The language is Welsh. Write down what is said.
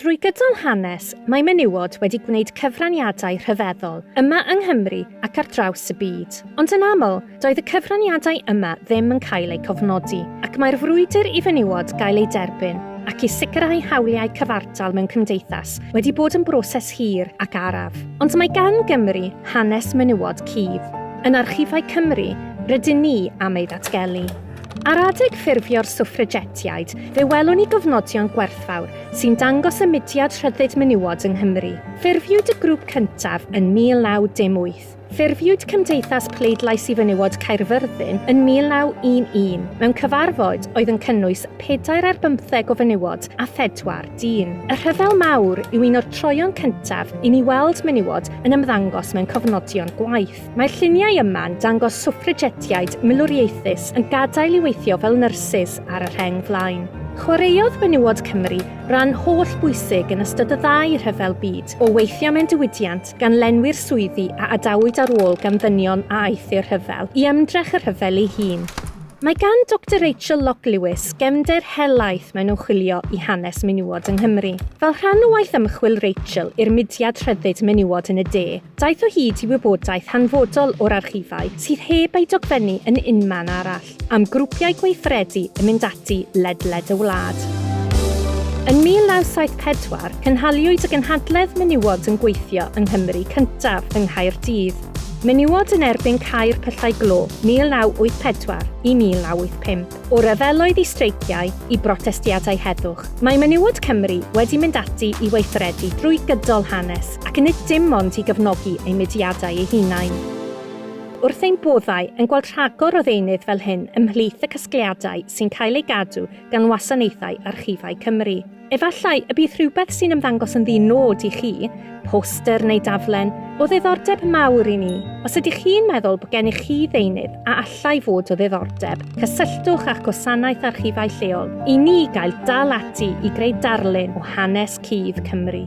Drwy gydol hanes, mae menywod wedi gwneud cyfraniadau rhyfeddol, yma yng Nghymru ac ar draws y byd. Ond yn aml, doedd y cyfraniadau yma ddim yn cael eu cofnodi, ac mae'r frwydr i fenywod gael eu derbyn ac i sicrhau hawliau cyfartal mewn cymdeithas wedi bod yn broses hir ac araf. Ond mae gan Gymru hanes menywod cudd. Yn Archifau Cymru, rydyn ni am ei ddatgelu. Ar adeg ffurfio'r Swffragetiaid, fe welwn ni gofnodion gwerthfawr sy'n dangos y mudiad rhyddid menywod yng Nghymru. Ffurfiwyd y grŵp cyntaf yn 1918. Ffurfiwyd Cymdeithas Pleidlais i Fenywod Caerfyrddin yn 1911 mewn cyfarfod oedd yn cynnwys pedair ar bymtheg o fenywod a phedwar dyn. Y Rhyfel Mawr yw un o'r troeon cyntaf i ni weld menywod yn ymddangos mewn cofnodion gwaith. Mae'r lluniau yma'n dangos swffragetiaid milwriaethus yn gadael i weithio fel nyrsys ar y rheng flaen. Chwaraeodd menywod Cymru ran holl bwysig yn ystod y ddau rhyfel byd, o weithio mewn diwydiant gan lenwi'r swyddi a adawyd ar ôl gan ddynion a aethu'r rhyfel, i ymdrech y rhyfel ei hun. Mae gan Doctor Rachel Lock Lewis gefnder helaeth mewn ymchwilio i hanes menywod yng Nghymru. Fel rhan o waith ymchwil Rachel i'r mudiad Rhyddid Menywod yn y De, Daeth o hyd i wybodaeth hanfodol o'r archifau sydd heb ei dogfennu yn unman arall, am grwpiau gweithredu yn mynd ati ledled y wlad. Yn 1974, cynhaliwyd y gynhadledd Menywod yn Gweithio yng Nghymru cyntaf yng Nghaerdydd, Menywod yn Erbyn Cau'r Pyllau Glo, 1984 i 1985. O ryfeloedd i streiciau, i brotestiadau heddwch, mae menywod Cymru wedi mynd ati i weithredu drwy gydol hanes, ac nid dim ond i gefnogi eu mudiadau eu hunain. Wrth ein boddau yn gweld rhagor o ddeunydd fel hyn ymhlith y casgliadau sy'n cael eu gadw gan Wasanaethau Archifau Cymru, Efallai y bydd rhywbeth sy'n ymddangos yn ddi-nod i chi, poster neu daflen, o ddiddordeb mawr i ni. Os ydych chi'n meddwl bod gennych chi ddeunydd a allai fod o ddiddordeb, cysylltwch â'ch gwasanaeth archifau lleol i ni gael dal ati i greu darlun o hanes cudd Cymru.